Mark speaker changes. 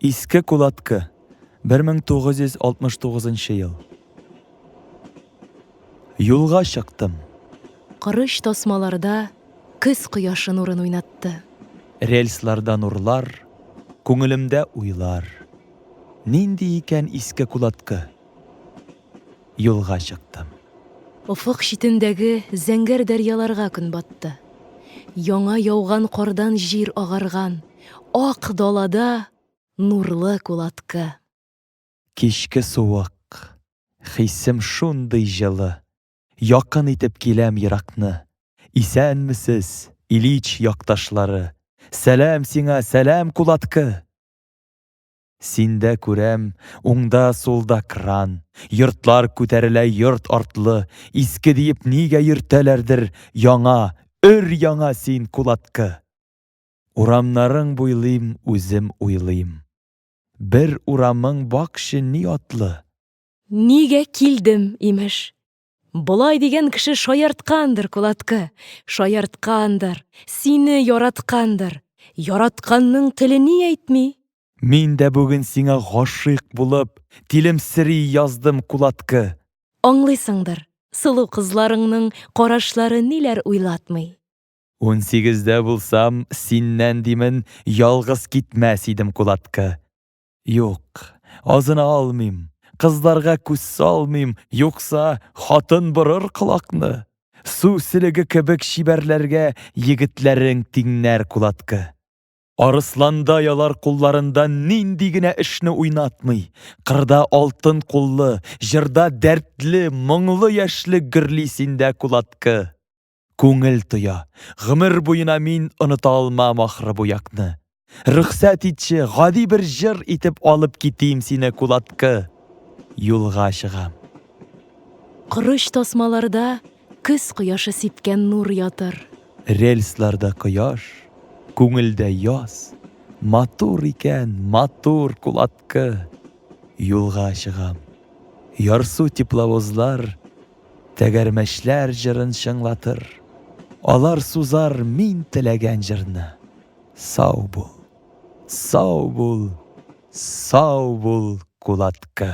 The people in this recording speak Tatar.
Speaker 1: Иске Кулаткы, 1969 ел. Юлга чыктым. Корыч тасмаларда көз кояшы нурын уйнатты. Рельсларда нурлар, күңелемдә уйлар. Нинди икән Иске Кулаткы? юлга чыктым. Офык читендәге зәңгәр дәрьяларга көн батты. Яңа яуган кардан җир агарган ак далада нурлы кулаткы. Кичке суык, хисем шундый җылы. Якын итеп киләм еракны. Исәнмесез, Ильич якташлары! Сәлам сиңа, сәлам кулаткы! Синдә күрәм, уңда, сулда кран, Йортлар күтәрелә йорт артлы, Иске диеп нигә йөртәләрдер, Яңа, өр-яңа син кулаткы! Урамнарың буйлыйм, үзем уйлыйм. Бер урамың бакчы ни атлы? Нигә килдем, имеш, Болай дигән кеше шаярткандыр, Кулаткы, шаярткандыр, сине яраткандыр. Яратканның теле ни әйтми? Мин дә бүген сиңа гашыйк булып, тилемсери яздым, Кулаткы. Аңлыйсыңдыр, сылу кызларыңның карашлары ниләр уйлатмый. Унсигездә булсам, синнән, димен, ялгыз китмәс идем, Кулаткы. Юк, азына алмыйм, кызларга күз салмыйм, юкса, хатын борыр колакны. Су селеге кебек чибәрләргә егетләрең тиңнәр кулаткы. Арысланда ялар кулларында нинди генә эшне уйнатмый, кырда алтын куллы, җырда дәртле, моңлы яшьлек гөрли синдә кулаткы. Күңел тоя, гомер буена мин оныта алмам ахры бу якны. Рөхсәт итче, гади бер җыр итеп алып китим сине кулаткы. Юлга чыгам. Корыч тасмаларда көз кояшы сипкән нур ятыр. Рельсларда кояш, күңелдә яз. Матур икән, матур кулаткы. Юлга чыгам. Ярсу тепловозлар Тәгәрмәчләр җырын чыңлатыр. Алар сузар мин теләгән җырны. Сау бул! Сау бул! Сау бул, кулаткы!